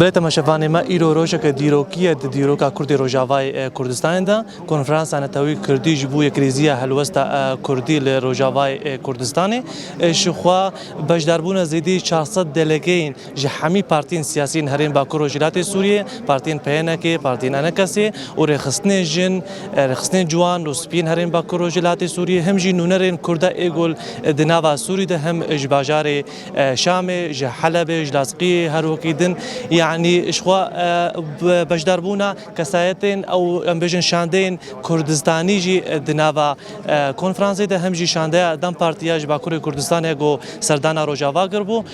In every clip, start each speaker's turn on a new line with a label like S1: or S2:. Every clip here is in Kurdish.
S1: Belê temaşevanê me îro rojeke dîrokî ye di dîroka Kurdê Rojavayê Kurdistanê de. Konferansa Neteweyî Kurdî ji bo yekirêziya helwesta Kurdî li Rojavayê Kurdistanê ji xwe beşdarbûna zêdî çar sed delegeyên Ji hemî partiyên siyasî yên herên Bakur Rojhilatê Sûriyê, partiyên PNK, partiyên NKS û rêxistinên jin, rêxistinên ciwan û spî yên herên Bakur Rojhilatê Sûriyê him jî nûnerên Kurda Êgul di nava Sûrî de him ji bajarê Şamê, ji Helebê, ji Lazqiyê her wekî din yanî ji xwe beşdarbûna kesayetên ew em bêjin şandeyên Kurdistanî jî di nava konfransê de him jî şandeya dem partî ya ji Bakurê Kurdistanê ku serdana Rojava kiribû.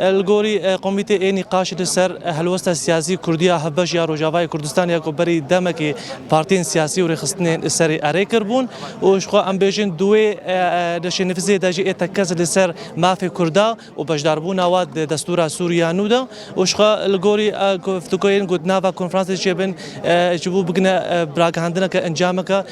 S1: Li gorî komîtê ê nîqaşê li ser helwesta siyasî kurdî ya hevbeş ya Rojavayê Kurdistanê ya ku berî demekê partiyên siyasî û rêxistinên li serê erê kiribûn û ji xwe em bêjin di wê nişênivîzê de jî ê tekkez li ser mafê kurda û beşdarbûna wan di destûra sûrî ya nû de û ji xwe li gorî guftugoyên ku di nava konferansê de çêbin ji bo bigine bi ragihandineke encameke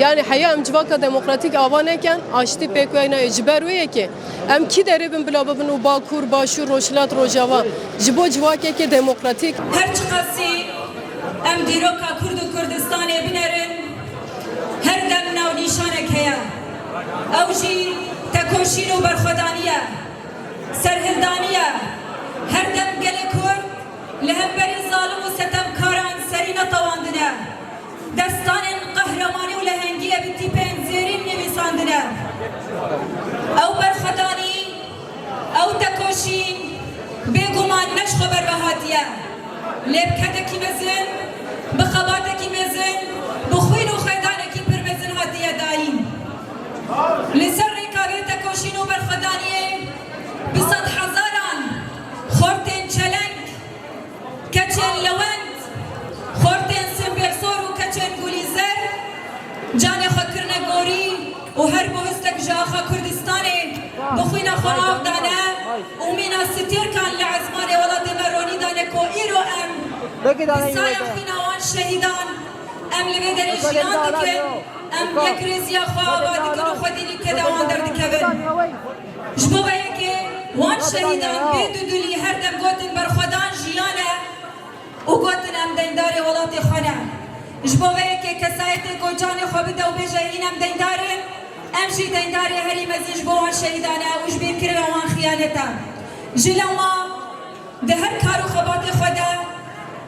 S2: Yanî heya em civaka demokratîk ava nekin, aştî pêk wey nayê. Ji ber wê yekê em kî derê bin bila bibin û Bakur, Başûr, Rojhilat, Rojava ji bo civakekê demokratîk. Her çiqasî
S3: em dîroka Kurd û Kurdistanê binerin, her dem navnîşanek heye. Ew jî tekoşîn û berxwedanî ye. Serhildanî ye. Her dem gelê Kurd li hemberî zalim û setemkaran serî netewandine. Destanên qehremanî û lehengiyê bi tîpên zêrîn nivîsandine. Ew berxwedanî, ew tekoşîn bêguman ne ji xwe ber ve hatiye. Lê bi kedekî mezin, bi xebatekî mezin, bi xwîn û xêdanekî pir mezin hatiye dayîn. Li ser rêka vê tekoşîn û berxwedaniyê bi sedhezaran xortên çeleng, Keçên lewend, xortên sêmbêrsor û keçên gulî zer canê xwe kirine gorî û her bohistek ji axa Kurdistanê bi xwîna xwe av dane û mîna stêrkan li ezmanê welatê me ronî dane ku îro em bi saya xwîna wan şehîdan em li vê derê jiyan dikin, em yekrêziya xwe ava dikin û xwedî li keda wan derdikevin. Ji bo vê yekê wan şehîdan bê dudulî her dem gotin berxwedan jiyan e û gotin em deyndarê welatê xwe ne. Ji bo vê yekê kesayetê ku canê xwe bide û bêje hîn em deyndar in, em jî deyndarê herî mezin ji bo wan şehîdan e û ji bîr kirina wan xiyanet e. Ji lewma di her kar û xebatê xwe de,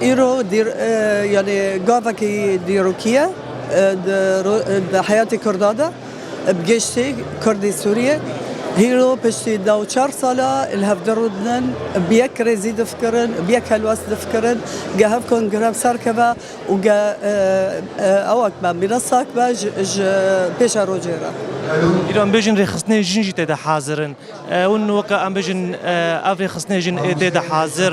S4: Îro dîr yanî gavekî dîrokî ye di heyatê Kurda de. Bi giştî Kurdê Sûriyê hîro piştî da û çar sal a li hev dirûdinin, bi yek kirêzî difikirin, bi yek helwest difikirin. Ge hev kon grev serkeve û ge ewek be mîrasak be ji pêşa rojê re. Îro em
S1: bêjin rêxistinên jin jî tê de hazir in. Hûn weke em bijin ev rêxistinên jin ê tê de hazir.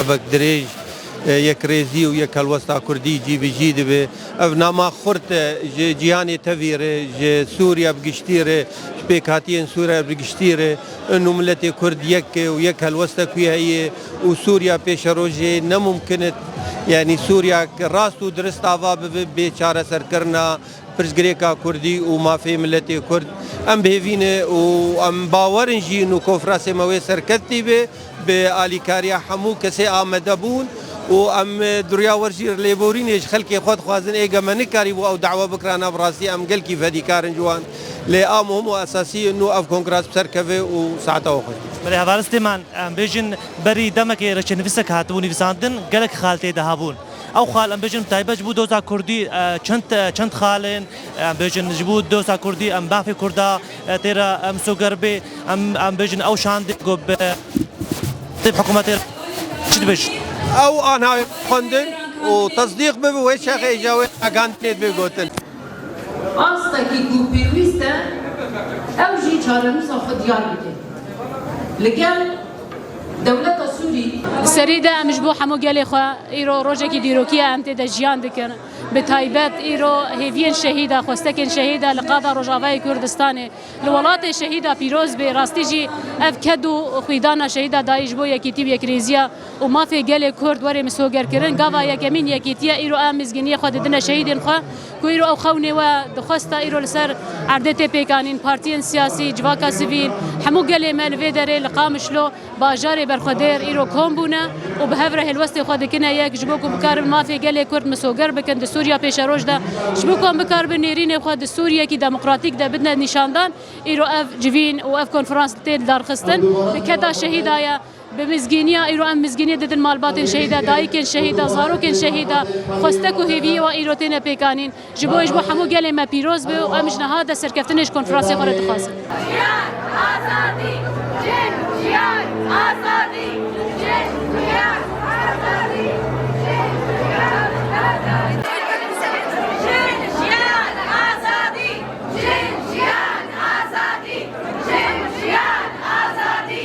S5: Evek dirêj, yekrêzî û yekhelwesta kurdî cî bi cî dibe. Ev nama xurt e ji cîhanê tevî re, ji Sûriya bi giştî re, ji pêkhatiyên Sûriya bi giştî re. Hin û miletê kurd yek e û yek helweste ku heye û Sûriya pêşerojê ne mumkin e. Yanî Sûriyayek rast û dirist ava bibe bê çareserkirina. Pirsgirêka Kurdî û mafê miletê Kurd em bi hêvî ne û em bawer in jî nû konfrasê me wê serkevtî bê, bi alîkariya hemû kesê amade bûn û em durya wer jî lêborînê ji xelkê xwe dixwazin. Êgê me nikarîbû ew dawa bikira nav rastî em gelkî fedîkar in ji wan lê a muhim û esasî in nû ev konfras bi ser keve û saeta we xwe Belê hevalistê
S1: me em bêjin berî demekê reçenivîsek hatibû nivîsandin gelek xal tê de habûn. Ew xal em bêjin taybet ji bo doza kurdî çend çend xal in. Em bêjin ji bo doza kurdî em bafê kurda tê re em soger bê. Em em bêjin ew şandê ku bi tê hikûmetê re çi dibêjin. Ew a navê
S5: xwendin û tesdîq bibe wê çexê ji wê ragihandinê dibê gotin.
S6: Astekî ku pêwîst e ew jî çarenûsa xwe diyar bike li gel dewleta Sûrî. Li serî de em ji
S7: bo hemû gelê xwe îro rojekî dîrokî ye, em tê de jiyan dikin. Bi taybet îro hêviyên şehîda, xwestekên şehîda li qada Rojavayê Kurdistanê, li welatê şehîda pîroz bê. Rastî jî ev ked û xwîdana şehîda dayî ji bo yekîtî û yekrêziya. û mafê gelê Kurd were misogerkirin. Gava yekemîn yekîtiye îro a mizgîniyê xwe didine şehîdên xwe ku îro ew xewnê we dixwesta îro li ser erdê tê pêkanîn. Partiyên siyasî, civaka sivîl, hemû gelê me li vê derê li Qamişlo, bajarê berxwedêr îro kom bûne û bi hev re hêlwestê xwe dikine yek ji bo ku bikaribin mafê gelê Kurd misoger bikin di Sûriya pêşeroj de. Ji bo ku em bikaribin nêrînê xwe di Sûriyeyekî demokratîk de bidine nîşandan îro ev civîn û ev konferans tên darxistin di keda şehîda ye. Bi mizgîniya îro em mizgîniyê didin malbatên şehîda, dayikên şehîda, zarokên şehîda, xwestek û hêviyê wan îro têne pêkanîn. Ji bo hêj bo hemû gelê me pîroz be û em ji niha de serkeftinên ji konferansê xwe re dixwazin. Jiyan, azadî, jin, jiyan,
S8: azadî, jin, jiyan, azadî, jin, jiyan, azadî. Jin, jiyan, azadî, jin, jiyan, azadî, jin, jiyan, azadî.